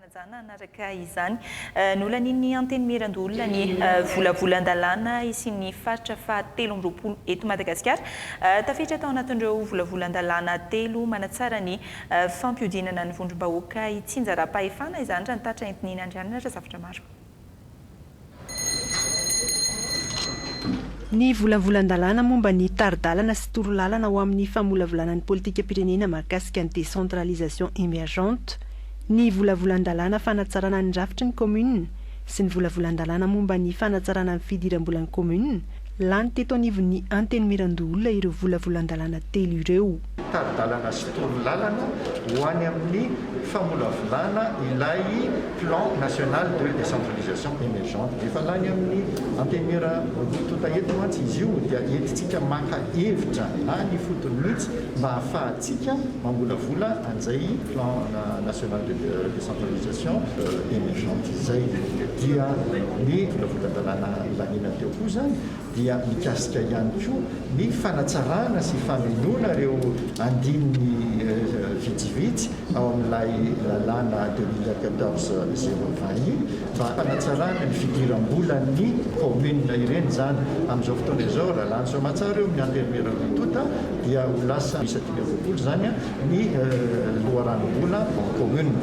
Fanajana hanaraka izany. Nolanin'ny Antenimierandoholona ny volavolan-dalàna hisian'ny faritra fahatelo amby roapolo eto Madagasikara. Tafiditra tao anatin'ireo volavolan-dalàna telo manatsara ny fampihodinana ny vondrom-bahoaka hitsinjaram-pahefana izany raha ny tatra entin'Iny Andrianina Razafitremaro. Ny volavolan-dalàna momba ny tari-dalana sy torolalana ho amin'ny famolavolana ny politikam-pirenena mahakasika ny décentralisation émergente, ny volavolan-dalàna fanatsarana ny rafitry ny kaominina sy ny volavolan-dalàna momba ny fanatsarana ny fidiram-bolan'ny kaominina, Lany teto anivon'ny Antenimierandoholona ireo volavolan-dalàna telo ireo. Tari-dalana sy toro lalana ho any amin'ny famolavolana ilay Plan national de décentralisation émergente. Efa lany amin'ny Antenimiera roa tonta eto mantsy izy io dia entintsika maka hevitra na ny ifotony mihitsy mba hahafahantsika mamolavola an'izay Plan national de décentralisation émergente izay. Dia ny volavolan-dalàna. Filaminana teo koa izany dia mikasika ihany koa ny fanatsarana sy famenoana ireo andininy vitsivitsy ao amin'ilay lalàna deux mille quatorze zéro vingt iny mba hanatsarana ny fidiram-bolan'ny kaominina ireny izany. Amin'izao fotoana izao, raha lany soamantsara eo amin'ny Antenimiera Rototo dia ho lasa miisa dimy amby roapolo izany ny loharanom-bola kaominina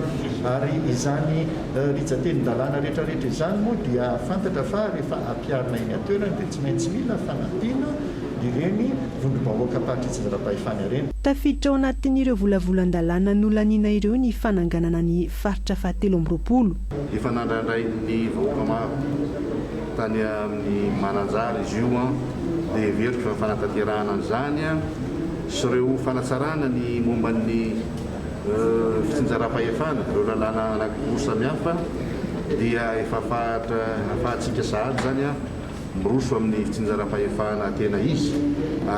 ary izany Rijan-tenin-dalàna rehetrarehetra izany moa dia fantatra fa rehefa ampiharina eny an-toerana dia tsy maintsy mila fanampiana ireny vondrom-bahoakam-pahatry izay ara-pahefana ireny. Tafiditra ao anatin'ireo volavolan-dalàna nolaniana ireo ny fananganana ny faritra fahatelo amby roapolo. Efa nandrandrain'ny vahoaka maro tany amin'ny Mananjary izy io dia heveriko fa ny fanatanterahana an'izany sy ireo fanatsarana ny momba ny fitsinjaram-pahefana, ireo lalàna anankiroa samihafa dia efa ahafahantsika sahady izany miroso amin'ny fitsinjaram-pahefana tena izy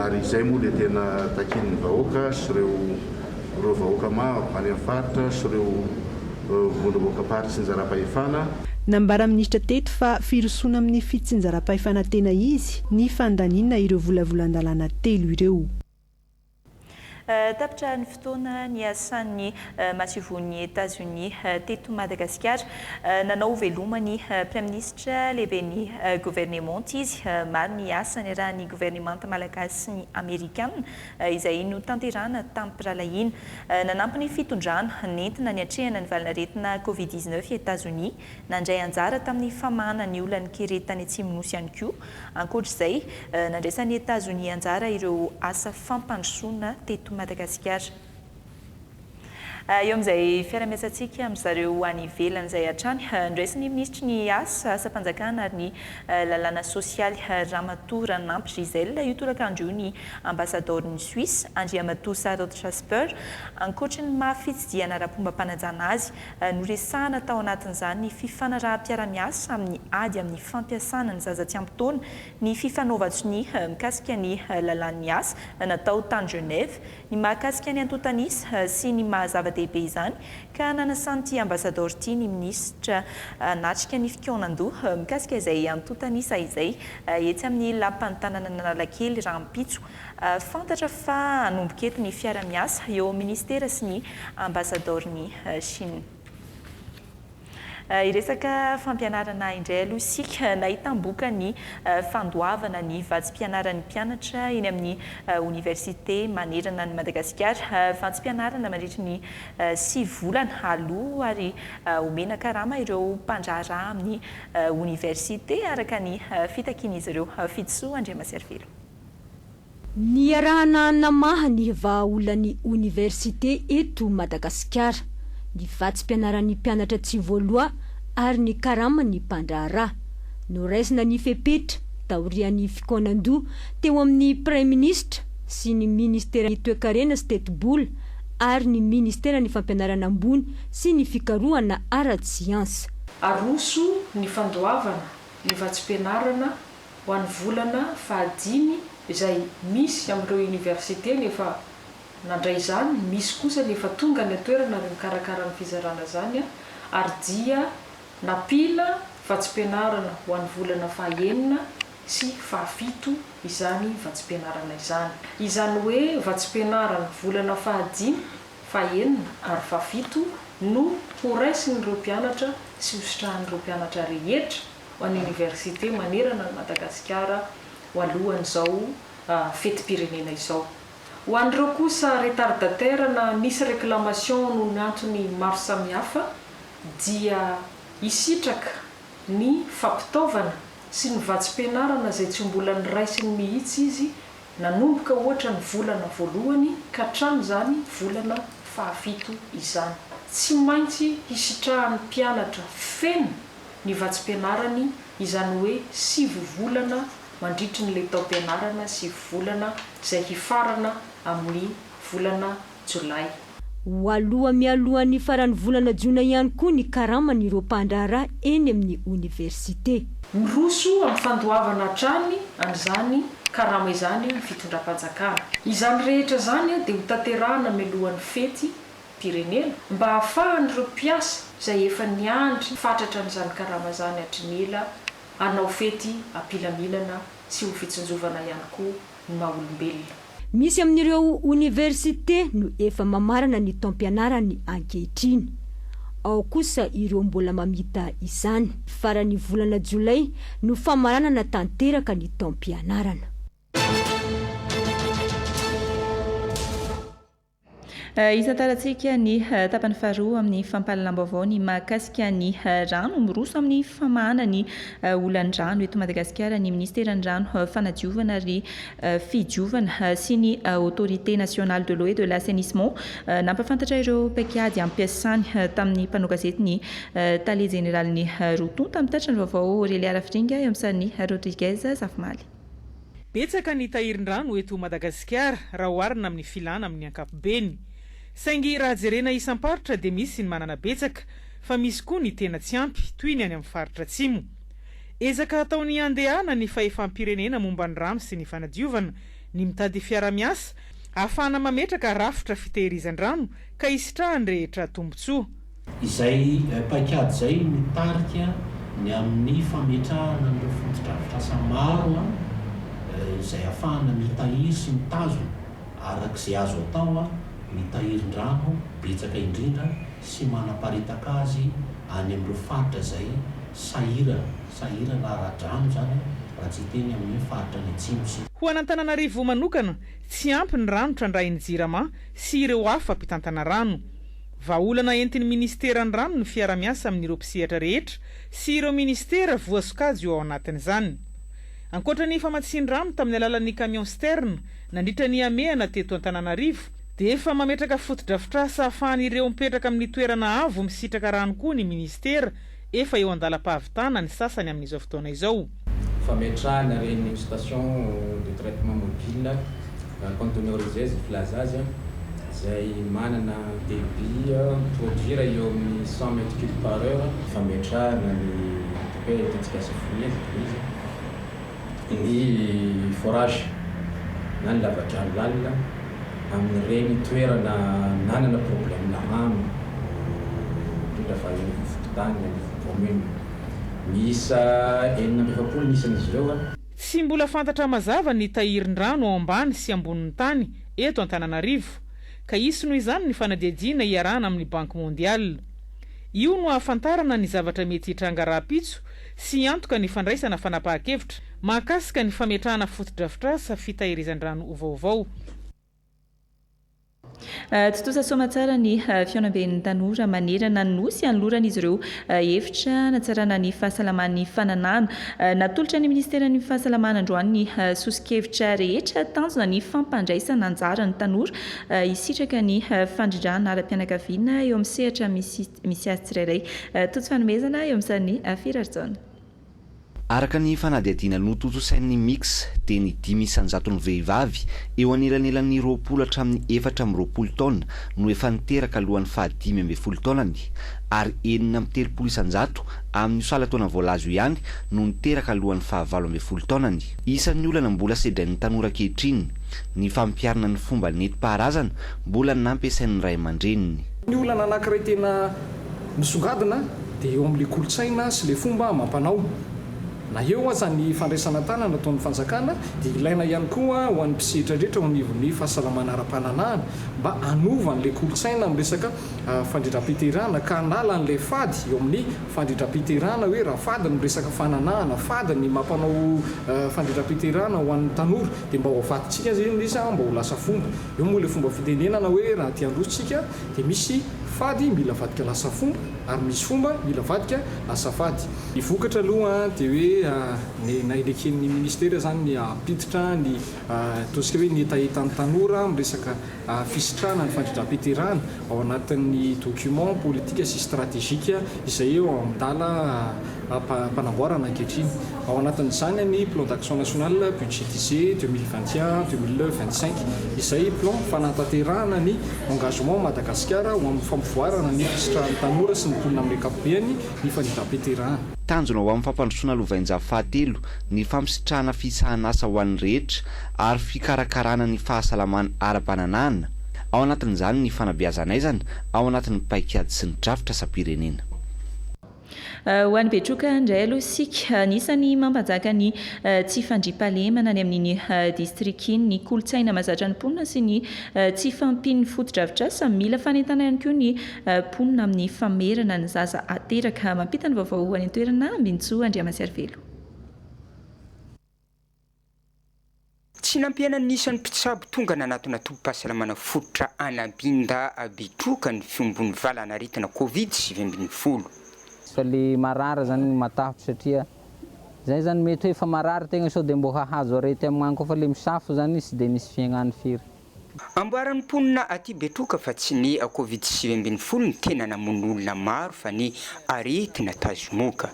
ary izay moa dia tena takian'ny vahoaka sy ireo ireo vahoaka maro any amin'ny faritra sy ireo vondrom-bohokam-paritry tsinjaram-pahefana. Nambaran'ny minisitra teto fa firosoana amin'ny fitsinjaram-pahefana tena izy ny fandaniana ireo volavolan-dalàna telo ireo. Tapitra ny fotoana niasan'ny masovon'i Etazonia teto Madagasikara. Nanao veloma ny Praiminisitra lehiben'ny governemanta izy. Maro ny asa niarahan'ny governemanta malagasy sy ny amerikana izay notanterahana tamim-pirahalahiana. Nanampy ny fitondrana nentina niatrehana ny valan'aretina Covid dix-neuf i Etazonia Nandray anjara tamin'ny famahana ny olan'ny kere tany Atsimonosy ihany koa. Ankoatra izay, nandraisan'i Etazonia anjara ireo asa fampandrosoana teto Madagasikara. Eo amin'izay fiara-miasantsika amin-dry zareo any ivelany izay hatrany, noraisin'ny minisitry ny Asa, asam-panjakana ary ny lalàna sosialy, Ramatoa Raninampy Gisèle, io torakandro io ny ambasadaoron'i Suisse, Andriamatoa Sarod Jasper. Ankoatry ny maha fitsidihana ara-pombam-panajana azy, Noresahana tao anatin'izany ny fifanaraham-piarahamiasa amin'ny ady amin'ny fampiasana ny zaza tsy ampy taona, ny fifanaovan-tsonia mikasika ny lalàn'ny asa natao tany Genève, ny mahakasika ny antontan'isa sy ny maha zava-dehibe izany ka nanasan'ity ambasadaoro ity ny minisitra hanatrika ny fikaonan-doha mikasika izay antontan'isa izay etsy amin'ny lapan'ny tanànan'Analakely rahampitso. Fantatra fa hanomboka eto ny fiara-miasa eo amin'ny Minisitera sy ny Ambasadaoron'i Chine. Hiresaka fampianarana indray aloha isika. Nahitam-boka ny fandoavana ny vatsim-pianaran'ny mpianatra eny amin'ny Oniversite manerana an'i Madagasikara. Vatsim-pianarana mandritry ny sivy volana aloha ary omena karama ireo mpandraharaha amin'ny Oniversite, araka ny fitakian'izy ireo. Fidisoa Andriamaserivelo. Niarahana namaha ny vahaolan'ny oniversite eto Madagasikara, ny vatsim-pianaran'ny mpianatra tsy voaloha ary ny karaman'ny mpandraharaha. Noraisina ny fepetra taorian'ny fikaonan-doha teo amin'ny Praiminisitra sy ny Ministeran'ny Toekarena sy Tetibola ary ny Ministeran'ny Fampianarana Ambony sy ny Fikarohana Ara-tsiansa. Aroso ny fandoavana ny vatsim-pianarana ho an'ny volana fahadimy izay misy amin'ireo oniversite ny efa nandray izany, misy kosa ny efa tonga any an-toerana ary mikarakara ny fizarana izany ary dia nampiana vatsim-pianarana ho an'ny volana fahaenina sy fahafito izany vatsim-pianarana izany. Izany hoe vatsim-pianarana volana fahadimy, fahaenina ary fahafito no horaisin'ireo mpianatra sy hositrahan'ireo mpianatra rehetra, ho an'ny oniversite manerana an'i Madagasikara ho alohan'izao fetim-pirenena izao. Ho an'ireo kosa retardataire na misy réclamation noho ny antony maro samihafa dia hisitraka ny fampitaovana sy ny vatsim-pianarana izay tsy mbola noraisiny mihitsy izy nanomboka ohatra ny volana voalohany ka hatramin'izany volana fahafito izany. Tsy maintsy hisitrahan'ny mpianatra feno ny vatsim-pianarany, izany hoe sivy volana mandritry ny le taom-pianarana sivy volana izay hifarana amin'ny volana Jolay. Ho aloha mialoha ny faran'ny volana Jona ihany koa ny karaman'ireo mpandraharaha eny amin'ny oniversite. Miroso amin'ny fandoavana hatrany an'izany karama izany ny fitondram-panjakana. Izany rehetra izany dia hotanterahina mialohan'ny fety Firenena mba hahafahan'ireo mpiasa izay efa niandry fatratra an'izany karama izany hatry ny ela hanao fety am-pilaminana sy ho fitsinjovana ihany koa ny maha olombelona. Misy amin'ireo oniversite no efa mamarana ny taom-pianarany ankehitriny. Ao kosa ireo mbola mamita izany. Faran'ny volana jolay no famaranana tanteraka ny taom-pianarana. Hitantarantsika ny tapany faharoa amin'ny fampahalalam-baovao ny mahakasika ny rano. Miroso amin'ny famahana ny olan'ny rano eto Madagasikara ny Ministeran'ny Rano, Fanadiovana ary Fidiovana sy ny Autorité Nationale de l'Eau et de l'Assainissement. Nampahafantatra ireo paikady ampiasany tamin'ny mpanao gazety ny Tale Jeneralin'ny Roa tonta mitatitra ny vaovao Aurelia Rafiringa eo amin'ny sarin'i Rodriguez Zafimaly. Betsaka ny tahirin-drano eto Madagasikara raha oharina amin'ny filana amin'ny ankapobeny. Saingy raha jerena isam-paritra dia misy ny manana betsaka fa misy koa ny tena tsy ampy toy ny any amin'ny faritra atsimo. Ezaka ataon'ny Andehana ny fahefam-pirenena momba ny rano sy ny fanadiovana ny mitady fiarahamiasa ahafahana mametraka rafitra fitehirizan-drano ka hisitrahan'ny rehetra tombotsoa. Izay paikady izay no tarika ny amin'ny fametrahana an'ireo fotodrafitrasa maro izay ahafahana mitahiry sy mitazona araka izay azo atao ny tahirin-drano betsaka indrindra sy manaparitaka azy any amin'ireo faritra izay sahirana, sahirana ara-drano izany raha tsy hiteny amin'ny hoe faritra any atsimo sy. Ho an'Antananarivo manokana, tsy ampy ny rano trandrahin'ny Jirama sy ireo hafa mpitantana rano. Vahaolana entin'ny Ministeran'ny Rano ny fiara-miasa amin'ireo mpisehatra rehetra sy ireo Ministera voasokajy eo ao anatin'izany. Ankoatra ny famatsian-drano tamin'ny alalan'ny camion citerne nandritra ny hamehana teto Antananarivo dia efa mametraka fotodrafitrasa ahafahan'ireo mipetraka amin'ny toerana avo misitraka rano koa ny Ministera Efa eo an-dalam-pahavitana ny sasany amin'izao fotoana izao. Fametrahana ireny station de traitement mobile conteneurisés filaza azy, izay manana débit mi-produire eo amin'ny cent mètres cubes par heure. Fametrahana ny hoe Tetikasa Fournier, zay toy izay. Ny forage na ny lavadrano lalina amin'ireny toerana nanana problème rano indrindra fa eny amin'ny fokontany na eny amin'ny commune miisa enina amby efapolo ny isan'izy ireo. Tsy mbola fantatra mazava ny tahirin-drano ao ambany sy ambonin'ny tany eto Antananarivo ka hisy noho izany ny fanadihadiana iarahana amin'ny Banky Mondiale. Io no hahafantarana ny zavatra mety hitranga rahampitso sy hiantoka ny fandraisana fanapahan-kevitra mahakasika ny fametrahana fotodrafitrasa fitahirizan-drano ho vaovao. Tontosa soa aman-tsara ny fihaonamben'ny tanora manerana ny Nosy hanoloran'izy ireo hevitra hanatsarana ny fahasalaman'ny fananahana. Natolotra ny minisiteran'ny Fahasalamana androany ny soso-kevitra rehetra tanjona ny fampandraisana anjara ny tanora hisitraka ny fandrindrana ara-pianakaviana eo amin'ny sehatra misy Misy azy tsirairay. Tojo fanomezana eo amin'ny sarin'i Firarijaona. Araka ny fanadihadiana notontosain'ny Mix dia ny dimy isan-jaton'ny vehivavy eo anelanelan'ny roapolo hatramin'ny efatra amby roapolo taona no efa niteraka alohan'ny fahadimy ambin'ny folo taonany ary enina amby telopolo isan-jato amin'io salan-taona voalaza io ihany no niteraka alohan'ny fahavalo ambin'ny folo taonany. Isan'ny olana mbola sedrain'ny tanora ankehitriny ny fampiharana ny fomba nentim-paharazana mbola nampiasain'ny ray aman-dreniny. Ny olana anankiray tena misongadina dia eo amin'ilay kolontsaina sy ilay fomba amam-panao. Na eo aza ny fandraisana an-tanana ataon'ny fanjakana dia ilaina ihany koa ho an'ny mpisehitra rehetra eo anivon'ny fahasalamana ara-pananahana mba hanova an'ilay kolontsaina amin'ny resaka fandrindram-piterahana ka hanala an'ilay fady eo amin'ny fandrindram-piterahana hoe raha fady ny resaka fananahana, fady ny maha mpanao fandrindram-piterahana ho an'ny tanora dia mba ho avadintsika aza izy mba ho lasa fomba Eo moa ilay fomba fitenenana hoe raha te handroso tsika dia misy fady mila avadika lasa fomba ary misy fomba mila avadika lasa fady. Ny vokatra aloha dia hoe na neken'ny ministera izany ny hampiditra ny ataontsika hoe ny hetahetan'ny tanora amin'ny resaka fisitrahana ny fandrindram-piterahana. ao anatin'ny document politika sy stratejika izay eo an-dala am-panamboarana ankehitriny. Ao anatin'izany ny Plan d'action national budgétisé deux mille vingt et un, deux mille vingt cinq, izay plan fanatanterahana ny engagement'i Madagasikara ho amin'ny fampivoarana ny fisitrahan'ny tanora sy ny mponina amin'ny ankapobeany ny fanindram-piterahana. Tanjona ho amin'ny fampandrosoana lovainjafy fahatelo ny fampisitrahana fisahan'asa ho an'ny rehetra ary fikarakarana ny fahasalamana ara-pananahana, Ao anatin'izany ny fanabeazan'aizana ao anatin'ny paikady sy ny drafitra asam-pirenena. Ho an'ny Betroka indray aloha isika, anisan'ny mampanjaka ny tsy fandriampahalemana any amin'iny distrika iny ny kolontsaina mahazatra ny mponina sy ny tsy fahampian'ny fotodrafitrasa. Mila fanentana ihany koa ny mponina amin'ny famerana ny zaza ateraka. Mampita ny vaovao any an-toerana Ambinintsoa Andriamasiarivelo. Tsy nampihenany ny isan'ny mpitsabo tonga nanatona tobim-pahasalamana fototra Anabinda Abitroka ny fiombon'ny valan'aretina Covid sivy ambin'ny folo. Fa le marary zany no matahotro satria zay zany mety hoe efa marary tegna sao de mbô hahazo arety amgna koa fa le misafo zany sy de misy fiaignany firy. Amboaran'ny mponina aty Betroka fa tsy ny Covid sivy ambin'ny folo no tena namono olona maro fa ny aretina tazomoka.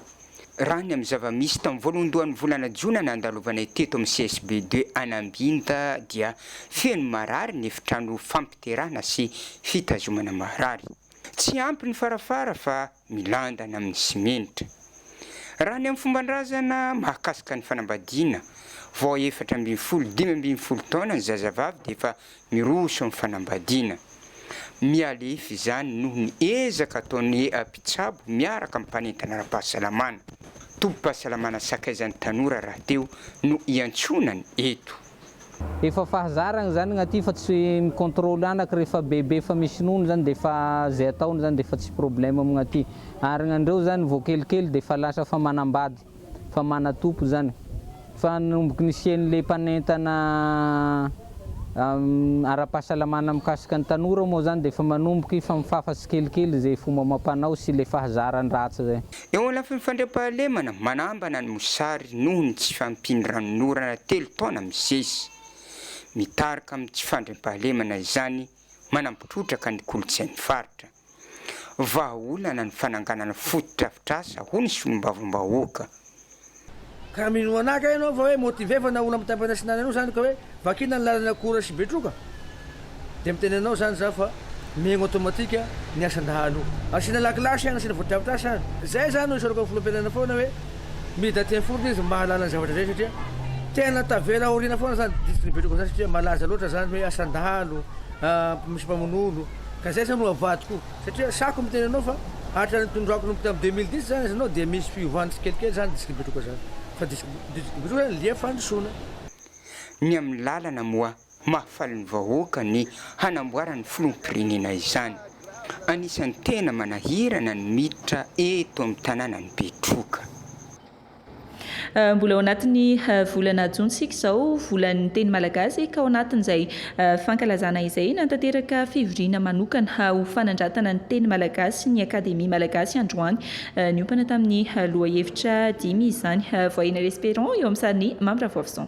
Raha ny amin'ny zava-misy, tamin'ny voalohandohan'ny volana jona nandalovanay teto amin'ny CSB deux an'Ambinta dia feno marary ny efitrano fampiterahana sy fitazomana marary. Tsy ampy ny farafara fa milandana amin'ny simenitra. Raha ny amin'ny fomban-drazana mahakasika ny fanambadiana, vao efatra ambin'ny folo, dimy ambin'ny folo taona ny zazavavy dia efa Miroso amin'ny fanambadiana. Mihalefy izany noho ny ezaka ataon'ny eha mpitsabo miaraka amin'ny mpanentana ara-pahasalamana. Tobim-pahasalamana sakaizan'ny tanora rahateo no iantsonany eto. Efa fahazarany izany gnaty fa tsy mi-contrôle anaka rehefa bebe efa misy nono izany dia efa izay ataony izany dia efa tsy problème gnaty. Ary gnandreo izany vao kelikely dia efa lasa efa manambady. fa manatompo izany fa nanomboka nisian'ilay mpanentana ara-pahasalamana mikasika ny tanora moa izany dia efa manomboka hifamifafa tsikelikely izay fomba amam-panao sy ilay fahazarany ratsy izay. Eo anlafiny fandriampahalemana manambana ny mosary noho ny tsy fahampian'ny ranonorana telo taona misesy. Mitarika amin'ny tsy fandriampahalemana izany manampotrotraka ny kolontsain'ny faritra. vahaolana ny fananganana fotodrafitrasa, hoy ny solombavambahoaka. Ka raha minoana ahy kay ianao fa hoe motiver fa nahoana mitampina sy nany anao izany ka hoe vakina ny lalana Akora sy Betroka dia miteny anao izany izaho fa mihaino automatique ny asa dahalo. Asiana lakilasy any, asiana fotodrafitrasa any. Izay izaho no isaorako ny filoham-pirenena foana hoe mida teny foana izy mba hahalala ny zavatra izay satria tena tavela aoriana foana izany distrika Betroka izany satria malaza loatra izany hoe asan-dahalo, misy mpamono olo. Ka zay zany no avadiko satria sahiko miteny anao fa araka ny tondrako nomboka tamin'ny deux mille dix zany ianao dia misy fiovany tsikelikely zany district betroka zany fa district district betroka zany lia fandrosoana. Ny amin'ny lalana moa mahafaly ny vahoaka ny hanamboaran'ny filoham-pirenena izany. Anisan'ny tena manahirana ny miditra eto amin'ny tanànan'i Betroka. Mbola ao anatin'ny volana jona isika izao, volan'ny teny malagasy, ka ao anatin'izay fankalazana izay, nanatanteraka fivoriana manokana ho fanandratana ny teny malagasy ny Akademia malagasy androany. Niompana tamin'ny lohahevitra dimy izany. Voyez-nous l'espérons eo amin'ny sarin'i Mamy Ravoavison.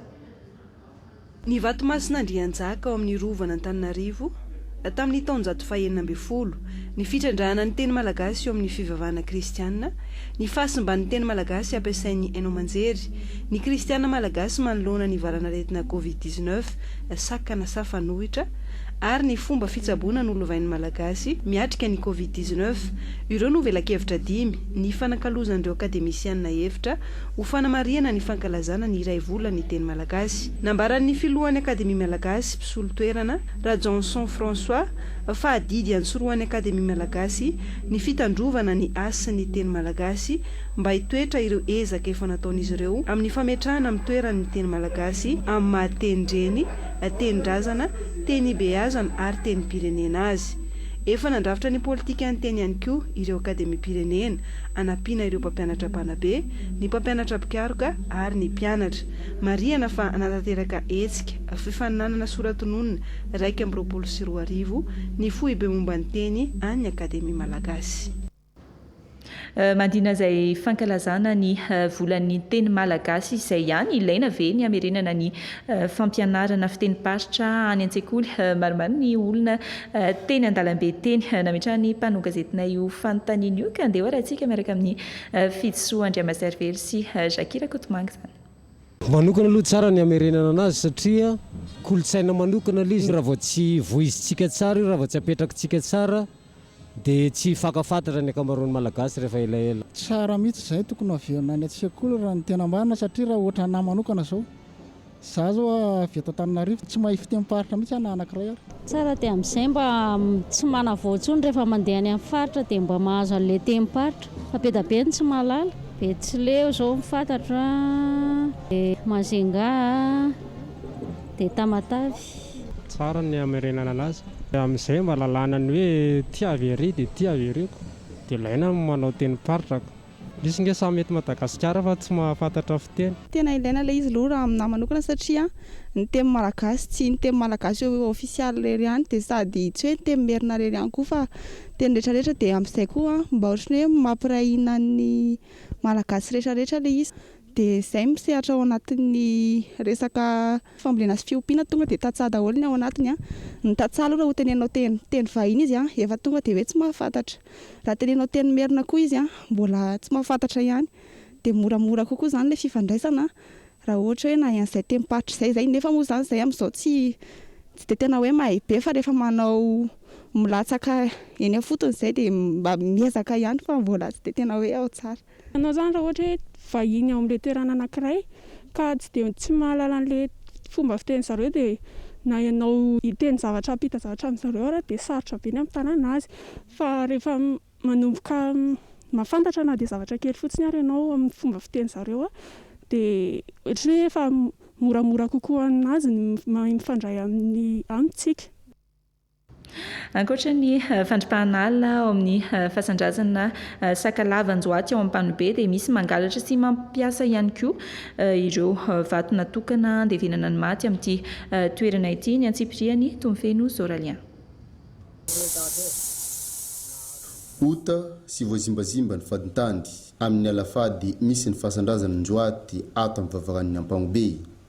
Ny vato masin'Andrianjaka ao amin'ny Rovan'Antananarivo tamin'ny taonjato fahenina ambin'ny folo, ny fitrandrahana ny teny malagasy eo amin'ny fivavahana kristiana, ny fahasimban'ny teny malagasy ampiasain'ny haino aman-jery, ny kristiana malagasy manoloana ny valan'aretina covid dix-neuf, sakana sa fanohitra, ary ny fomba fitsaboana nolovain'ny malagasy miatrika ny covid dix-neuf, ireo no velakevitra dimy nifanakalozan'ireo akademisiana hevitra ho fanamarihana ny fankalazana ny iray volan'ny teny malagasy. Nambaran'ny filohan'ny Akademia malagasy, mpisolo toerana, Rajaonson François, fa adidy antsorohan'ny Akademia malagasy ny fitandrovana ny hasin'ny teny malagasy mba hitoetra ireo ezaka efa nataon'izy ireo amin'ny fametrahana amin'ny toerany ny teny malagasy amin'ny maha tenindreny, tenindrazana, teny ibeazana ary tenim-pirenena azy. Efa nandrafitra ny politikan'ny teny ihany koa ireo Akademiam-pirenena hanampiana ireo mpampianatra mpanabe, ny mpampianatra mpikaroka ary ny mpianatra. Marihana fa hanatanteraka hetsika fifaninanana soratononina iraika amby roapolo sy roa arivo ny Foibe momba ny Teny an'ny Akademia Malagasy. Mandina izay fankalazana ny volan'ny teny malagasy izay ihany, ilaina ve ny hamerenana ny fampianarana fitenim-paritra any an-tsekoly. Maromaro ny olona teny an-dalambe teny. Nametrahan'ny mpanao gazetinay io fanontaniana io, ka andeha hoarahintsika miaraka amin'i Fidisoa Andriamaservely sy Jackie Rakotomanga izany. Manokana aloha tsara ny hamerenana anazy satria kolontsaina manokana ilay izy, raha vao tsy voizintsika tsara io, raha vao tsy apetrakintsika tsara Dia tsy faka fatratra ny ankamaroan'ny Malagasy rehefa elaela. Tsara mihitsy izay, tokony haverina any an-tsekoly raha ny tena marina satria raha ohatra anah manokana izao, izaho izao avy eto Antananarivo, tsy mahay fitenim-paritra mihitsy aho na anankiray ary. Tsara dia amin'izay mba tsy manavao intsony rehefa mandeha any amin'ny faritra dia mba mahazo an'ilay tenim-paritra fa be dia be ny tsy mahalala, Betsileo izao ny fantatro an, dia Majunga an, dia Tamatave. Tsara ny hamerenana anazy. Dia amin'izay mba lalàna ny hoe ity avy ery dia ity avy ery ko. Dia ilaina ny manao tenim-paritra ko. Misy nge samy eto Madagasikara fa tsy mahafantatra fiteny. Tena ilaina ilay izy aloha raha aminahy manokana satria ny teny malagasy tsy ny teny malagasy ofisialy irery ihany dia sady tsy hoe teny merina irery ihany koa fa teny rehetra rehetra dia amin'izay koa mba ohatran'ny hoe mampiray hina ny malagasy rehetra rehetra ilay izy. Dia izay ny mpisehatra ao anatin'ny resaka fambolena sy fiompiana tonga dia tantsaha daholo ny ao anatiny an! Ny tantsaha aloha raha hoteneninao teny teny vahiny izy an! efa tonga dia hoe tsy mahafantatra. Raha teneninao teny merina koa izy an! mbola tsy mahafantatra ihany. Dia moramora kokoa izany ilay fifandraisana raha ohatra hoe nahay an'izay tenim-paritra izay izay. Nefa moa izany izay amin'izao tsy tsy dia tena hoe mahay be fa rehefa manao milatsaka eny am-fotony izay dia mba miezaka ihany fa mbola tsy dia tena hoe ao tsara. Ianao izany raha ohatra hoe vahiny ao amin'ilay toerana anankiray ka tsy dia tsy mahalala an'ilay fomba fitenin'ny zareo dia na ianao hiteny zavatra hampita zavatra amin-dry zareo ary dia sarotra be ny hampitanana azy fa rehefa manomboka mahafantatra na dia zavatra kely fotsiny ary ianao amin'ny fomba fitenin'ny zareo dia ohatran'ny hoe efa moramora kokoa aminazy ny mahay mifandray amintsika Ankoatra ny fandripahana ala ao amin'ny fasan-drazana Sakalava Anjoaty ao Ampanobe dia misy mangalatra sy mampiasa ihany koa ireo vato natokana handevenana ny maty amin'ity toerana ity ny antsipiriany, Tomofeno Zoralien. Ota sy voazimbazimba ny fadintany amin'ny ala fady misy ny fasan-drazana Anjoaty ato amin'ny vavaranon'i Ampanobe.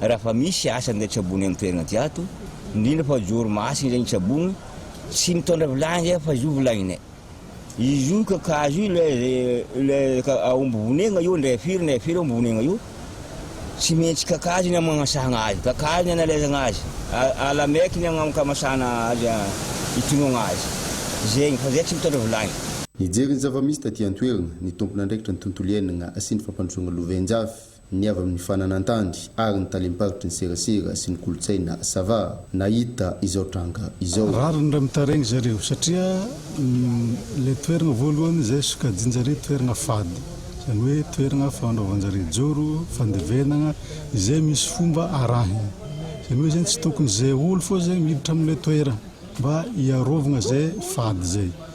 raha fa misy asa minday tsabony amin'ny toerana aty ato, indrindra fa joro masina ireny tsabony, tsy mitondra vilany zay aho fa izy io vilaninay. Izy io kakazo io ilay zay ilay ka- aomby vonegna io ndray firy ndray firy aomby vonegna io, tsy maintsy kakazo ny amanasahagna azy, kakazo ny analaizagna azy, a- ala maiky ny agnamkamasana azy a- itonogna azy. Zegny, fa zay tsy mitondra vilagny. Nijery ny zava-misy taty an-toerana ny tompon'andraikitra ny tontolo iainagna sy ny fampandrosoagna lovain-jafy. ny avy amin'ny fananan-tany ary ny talem-paritry ny serasera sy ny kolontsaina Sava nahita izao tranga izao. Rariny raha mitaraigny zareo satria le toeragna voalohany izay sokajianjareo toeragna fady zany hoe toeragna fanaovanjareo joro, fandevenagna izay misy fomba arahiny zany hoe zany tsy tokony ze olo fô ze miditra amle toeragna mba hiarovagna ze fady zay.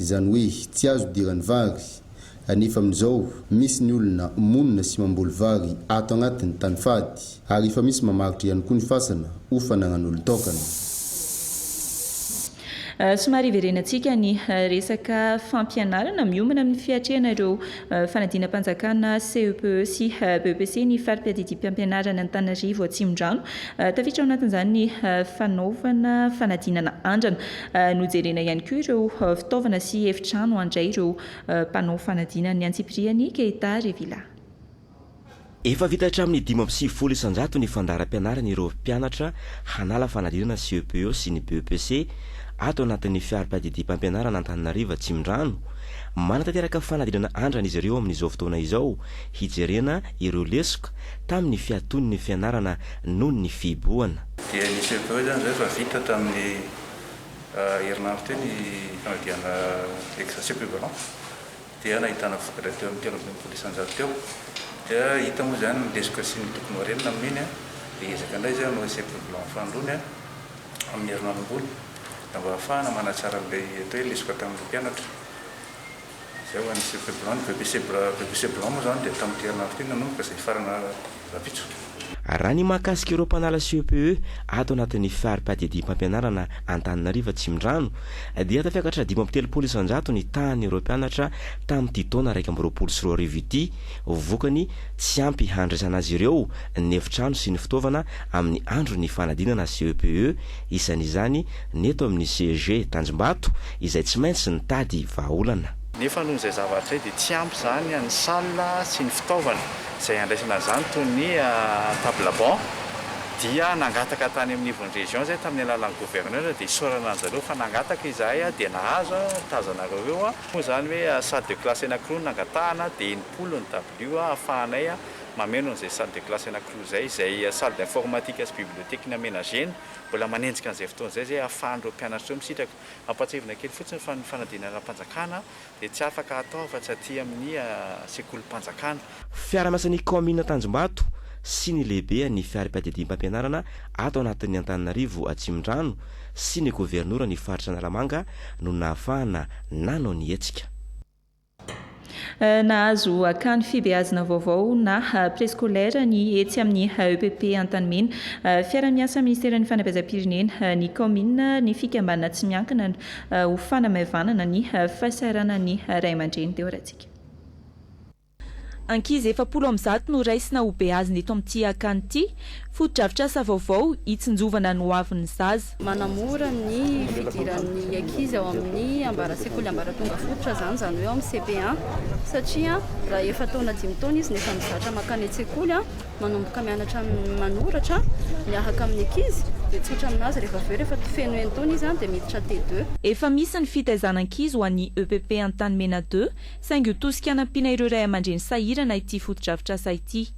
Izany hoe tsy azo idiran'ny vary. Anefa amin'izao, misy ny olona monina sy mamboly vary ato agnatiny tany fady, ary efa misy mamaritra ihany koa ny fasana ho fanagnan'olon-taokana. Somary hiverenantsika ny resaka fampianarana miombona amin'ny fiatrehana ireo fanadinam-panjakana CEPE sy BEPC ny fari-piadidiam-piampianarana Antananarivo Atsimondrano. Tafiditra ao anatin'izany ny fanaovana fanadinana andrana. Nojerena ihany koa ireo fitaovana sy efitrano handray ireo mpanao fanadinana ny antsipiriany Keita Revilla. Efa vita hatramin'ny dimy amby sivifolo isan-jato ny fandaharam-pianarana ireo mpianatra hanala fanadinana CEPO sy ny BEPC ato anatin'ny fiarimpahadidiam-pampianarana Antananarivo Atsimondrano. Manatanteraka fanadinana andrana izy ireo amin'izao fotoana izao hijerena ireo lesoka tamin'ny fiatoan'ny fianarana noho ny fihibohana. Dia nisy avy eo izany izay efa vita tamin'ny herinandro teo ny fanadihana exercice equivalent dia nahitana vokatra teo amin'ny telo ambin'ny folo isanjato teo. Dia hita moa izany ny lesoka sy ny tokony ho harena amin'iny dia hiezaka indray izay hanao essai equivalent fahandroany amin'ny herinandro ambony mba hahafahana manatsara an'ilay atao hoe lesoka tamin'ireo mpianatra. Izay ho an'ny Cirque Blanc. Ny Bebe Zebra, Bebe Zebra moa izany dia tamin'ity herinandro ity no nanomboka izay hifarana rahampitso. Raha ny mahakasika ireo mpanala CEPE ato anatin'ny fari-piadidiam-pampianarana Antananarivo Atsimondrano dia tafiakatra dimy amby telopolo isan-jato ny tahan'ireo mpianatra tamin'ity taona iraika amby roapolo sy roa arivo ity vokany tsy ampy handraisana azy ireo ny efitrano sy ny fitaovana amin'ny andron'ny fanadinana CEPE isan'izany ny eto amin'ny CEG Tanjombato izay tsy maintsy nitady vahaolana. Nefa noho izay zavatra izay dia tsy ampy izany ny salle sy ny fitaovana izay handraisana an'izany toy ny table banc dia nangataka tany amin'ny ivon'ny région izahay tamin'ny alalan'ny gouverneur dia isaorana an'i zareo fa nangataka izahay dia nahazo tazanareo eo moa izany hoe salle de classe anankiroa no nangatahana dia enimpolo ny dabilio ahafahanay mameno an'izay salle de classe anankiroa izay izay salle d'informatique sy bibliothèque ny aménagena mbola manenjika an'izay fotoana izay izay ahafahan'ireo mpianatra ireo misitraka. Ampahatsiahivina kely fotsiny fa ny fanadinana ara-panjakana dia tsy afaka atao afa-tsy aty amin'ny sekolim-panjakana. Fiaraha-miasan'ny kaominina Tanjombato sy ny lehibean'ny fihariam-piadidiam-pampianarana ato anatin'ny Antananarivo Atsimondrano sy ny governoran'ny faritra Analamanga no nahafahana nanao ny hetsika. Nahazo akany fibeazina vaovao na prescolaire ny etsy amin'ny EPP Antanimena. Fiara-miasa ministeran'ny fanabeazam-pirenena, ny kaominina, ny fikambanana tsy miankina ho fanamaivanana ny fahasahiranan'ny ray aman-dreny teo Ratsika. Ankizy efapolo amin'ny zato no raisina ho beazina eto amin'ity akany ity. Fotodrafitrasa vaovao hitsinjovana ny hoavin'ny zaza. Manamora ny fidiran'ny ankizy ao amin'ny ambara sekoly ambaratonga fototra izany, izany hoe ao amin'ny CP1, satria raha efa taona dimy taona izy no efa mizatra mankany an-tsekoly, manomboka mianatra manoratra miahaka amin'ny ankizy, dia tsotra amin'azy rehefa avy eo, rehefa feno enin-taona izy dia miditra T2. Efa misy ny fitaizan'ankizy ho an'ny EPP Antanimena deux, saingy ho tosika hanampiana ireo ray aman-dreny sahirana ity fotodrafitrasa ity.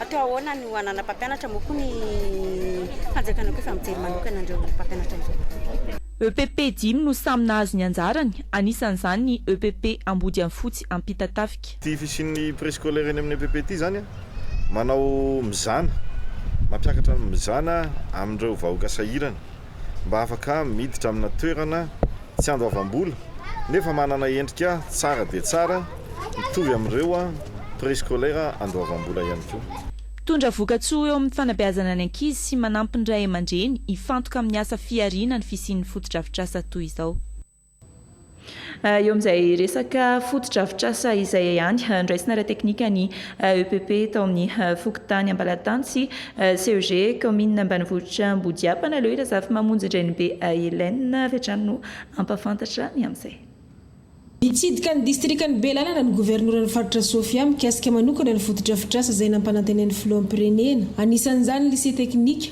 Atao ahoana no hanana mpampianatra moa koa ny fanjakana koa efa mijery manokana an'ireo mpampianatra ireo. EPP dimy no samy nahazo ny anjarany, anisan'izany ny EPP Ambodiafotsy Ampitatafika. Ity fisian'ny préscolaire eny amin'ny EPP ity izany manao mizana, mampiakatra ny mizana amin'ireo vahoaka sahirana. mba afaka miditra amina toerana tsy andoavam-bola nefa manana endrika tsara dia tsara mitovy amin'ireo préscolaire andoavam-bola ihany koa. Mitondra vokatsoa eo amin'ny fanabeazana ny ankizy sy manampy ny ray aman-dreny hifantoka amin'ny asa fihariana ny fisian'ny fotodrafitrasa toy izao. Eo amin'izay resaka fotodrafitrasa izay ihany, noraisina ara-teknika ny EPP tao amin'ny fokontany Ambalatany sy CEG kaominina ambanivohitra Ambodiampana. Aleo i Razafimamonjy Ndrenibe Hélène avy hatrany no hampahafantatra ny amin'izay. Nitsidika ny distrikan'i Belalana ny governoran'ny faritra Sofia mikasika manokana ny fotodrafitrasa izay nampanantenain'ny filoham-pirenena, anisan'izany ny Lycée Teknika.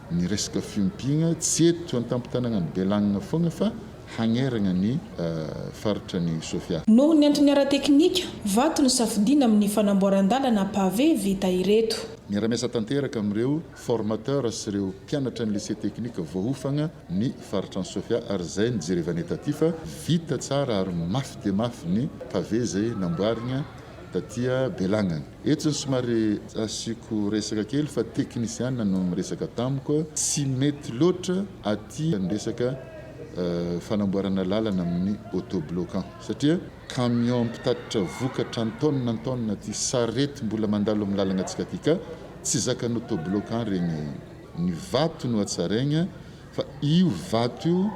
Ny resaka fiompiana tsy eto an-tampon-tanànan'i Bealagnana foana fa hagnerana ny faritra ny Sofia. Noho ny antony ara-teknika, vato no safidiana amin'ny fanamboaran-dalana pavé vita ireto. Miara-miasa tanteraka amin'ireo formateurs sy ireo mpianatra ny lycée technique voahofana ny faritra ny Sofia ary izay no jerevane taty fa vita tsara ary mafy dia mafy ny pavé izay namboarina taty Bealagnana. Eto zao somary asiako resaka kely fa teknisiana no miresaka tamiko, tsy mety loatra aty ny resaka fanamboarana lalana amin'ny autobloquant satria camion mpitatitra vokatra an-taonina an-taonina aty, sarety mbola mandalo amin'ny lalanantsika aty ka tsy zakan'ny autobloquant regny, ny vato no hatsaraigna. Fa io vato io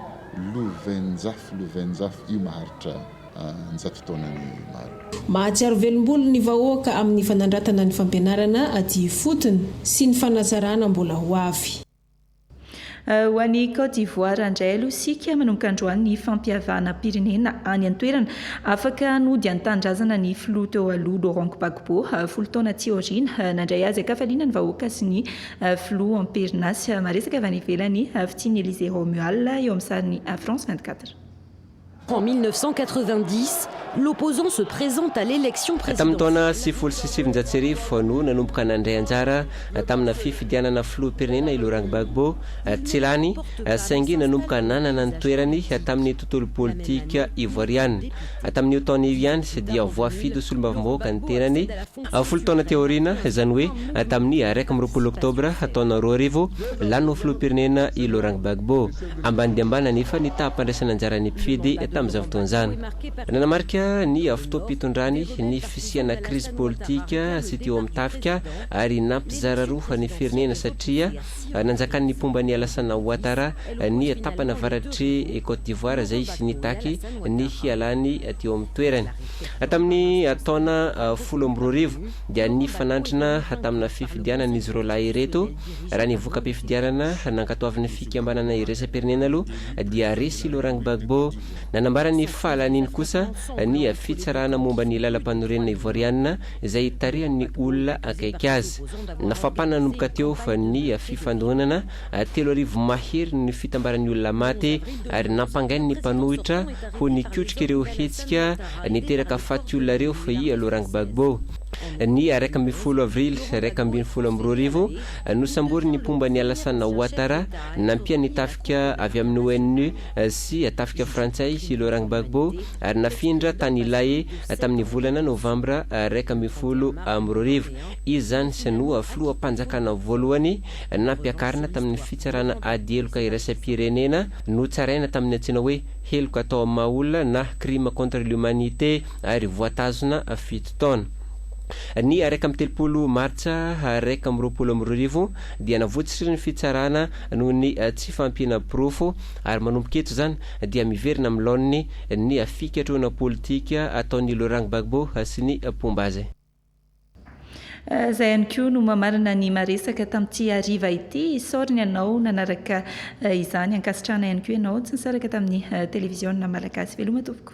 lovenjafy lovenjafy io maharitra an-jato taona ny maro. Mahatsiaro velombolo ny vahoaka amin'ny fanandratana ny fampianarana aty ifotony sy ny fanatsarana mbola ho avy. Ho an'i Côte d'Ivoire indray aloha isika, manomboka androany ny fampihavanam-pirenena any an-toerana. Afaka nody an-tanindrazana ny filoha teo aloha Laurent Gbagbo, folo taona aty aoriana, nandray haza an-kafaliana ny vahoaka sy ny Filoha amperinasa maresaka avy any ivelany, Fitia Ny Elysée Romuald eo amin'ny sarin'ny France vingt quatre. En 1990, l'opposant se présente à l'élection présidentielle. Tamin'ny taona sivifolo sy sivinjato sy arivo no nanomboka nandray anjara tamina fifidianana filoham-pirenena i Laurent Gbagbo. Tsy lany saingy nanomboka nanana ny toerany tamin'ny tontolo politika ivoariana. Tamin'io taona io ihany dia voafidy ho solombavambahoaka ny tenany. Folo taona teo aoriana, izany hoe tamin'ny iraika amby roapolo Oktobra taona roa arivo, lany ho filoham-pirenena i Laurent Gbagbo. Ambany dia ambany anefa ny taham-pandraisana anjaran'ny mpifidy tamin'izany fotoana izany. Nanamarika ny fotoam-pitondrany ny fisiana krizy politika sy teo amin'ny tafika ary nampizara roa ny firenena satria nanjakan'ny mpomba an'i Alassana Ouattara ny tapany avaratr'i Côte d'Ivoire izay nitaky ny hialany teo amin'ny toerany. Tamin'ny taona folo amby roa arivo dia nifanandrina tamina fifidianana izy roalahy ireto. Raha ny voka-pifidianana nankatoavin'ny fikambanana iraisam-pirenena aloha dia resy Laurent Gbagbo. Nanambara ny fahalaniany kosa ny fitsarana momba ny lalampanorenana Ivoarianina izay tarihan'ny olona akaiky azy. Nafapana nanomboka teo ny fifandonana Telo arivo mahery ny fitambaran'ny olona maty ary nampangainy ny mpanohitra ho nikotrika ireo hetsika niteraka faty olona ireo i Laurent Gbagbo. Ny iraika ambin'ny folo avrily iraika ambin'ny folo amby roa arivo, nosamborin'ny mpomba an'i Alassane Ouattara nampian'ny tafika avy amin'ny ONU sy tafika frantsay i Laurent Gbagbo ary nafindra tany Lae tamin'ny volana novambra iraika ambin'ny folo amby roa arivo. Izy izany no filoham-panjakana voalohany Nampiakarina tamin'ny fitsarana ady heloka iraisam-pirenena notsaraina tamin'ny antsoina hoe heloka atao amin'ny maha olona na crime contre l'humanité ary voatazona fito taona. Ny iraika amby telopolo Martsa iraika amby roapolo amby roa arivo dia navotsotra ny fitsarana noho ny tsy fahampiana porofo ary manomboka eto izany dia miverina amin'ny laoniny ny fikatrohana politika ataon'i Laurent Gbagbo sy ny mpomba azy. Izay ihany koa no mamarana ny maresaka tamin'ity hariva ity. Isaory ny anao nanaraka izany. Ankasitrahana ihany koa ianao tsy nisaraka tamin'ny televiziona malagasy. Veloma tompoko.